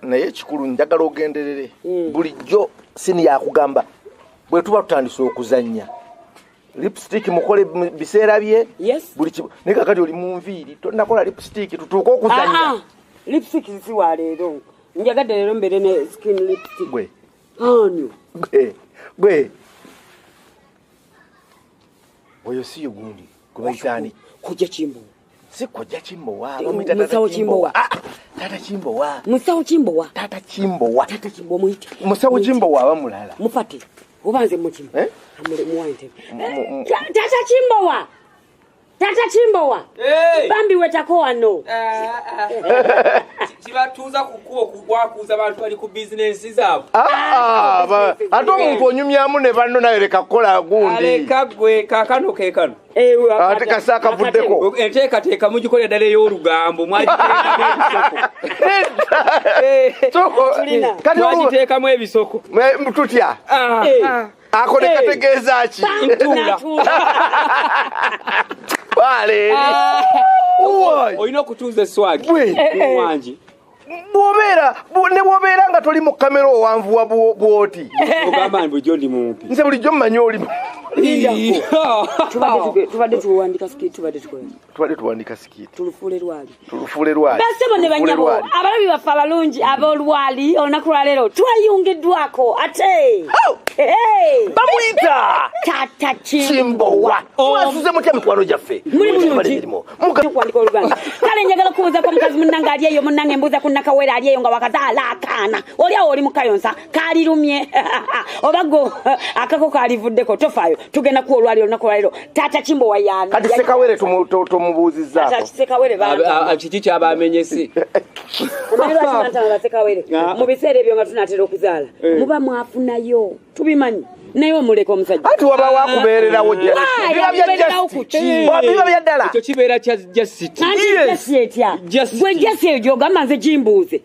naye ekikulu njagala ogenderere mm. bulijjo sini yakugamba bwe tuba tutandise okuzannya lipstick mukole biseera bye buli kibu naye kakati oli mu nviiri tonakola lipstick tutuuke okuzannya ah, ah. lipstick si wa leero njagadde leero mbeere ne skin lipstick gwe anyo gwe gwe oyo si yugundi gwebayitaani kujja kimbuwa sikojja kimbowa musawo kimbowa ah, ah, tata kimbowa musawo kimbowa tata kimbowa tata kimbowa muyite musawo kimbowa aba mulala mufate oba nze mukimu eh? amule muwa ntebe eh, tata kimbowa tata kimbowa bambi wetako wano eh, kibatuuza kukuwa kugwakuuza bantu bali ku bizinensi zaabwe ah, ate omuntu onyumyamu ne banno naye leka kukola gundi leka gwe kakano kekano Eh, ate kasa akavuddeko enteekateeka mugikolera ddala ey'olugambo mwagiteekamu ebisoko tutya ah. eh. ah. ako nekategeeza ki ah. olina okutuuza eswagi wangi bwobeera ne bwobeera nga toli mu kamera owanvuwa bwoti nze bulijjo mmanyi olimu tubadde tuwandika sikiti tubadde tukola tubadde tuwandika sikiti tulufuule lwali tulufuule lwali basebo ne banyabo abalabi baffe abalungi ab'olwali olunaku lwaleero twayungiddwako ate oh! bamuyita tata kimbowa mwasuze mutya mikwano gyaffe muli bulungi kukwandika oluganda kale njagala kukubuuza kwa mukazi munnange ali eyo munnange mbuuza ku nakawere ali eyo nga wakazaala akaana oli awo oli mukayonsa kalirumye oba go akako kalivuddeko tofaayo tugenda kuwa olwali olunaku lwalero taata kimbo wayani kati sekawere tumubuuzizakiki kyaba amenyesi mu biseera ebyo nga tunatera okuzaala eh. muba mwafunayo tubimanyi naye omuleka omusajja ati waba wakubeererawo biba bya ddala ekyo kibeera kya jasititya gwe jasi eyo gyogamba nze gimbuuze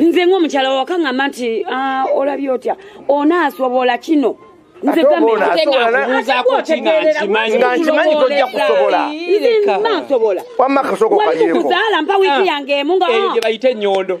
nze ng'omukyala wawaka ngamba nti ah, olabye otya onaasobola kino nze gamenankimanyi tojja kusobola nze mba nsobola wamma kasooka okayeko wali mukuzaala mpa wiiki ah. yange emu nga eyo gye bayita ennyondo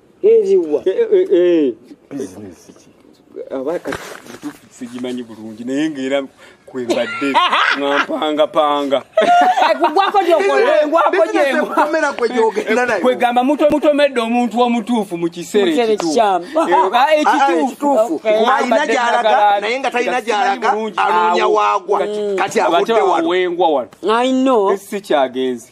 eziwa eh, eh, eh, bizinesi ki aba kati sigimanyi bulungi naye ngaera kwembadde ngampangapanga kugwako gyokolkwegamba mutomedde omuntu omutuufu mu kiseera ekituufualina gyalaga naye nga talina gyalaga anoonya waagwa kati awuddewalwengwa wano si kyagenzi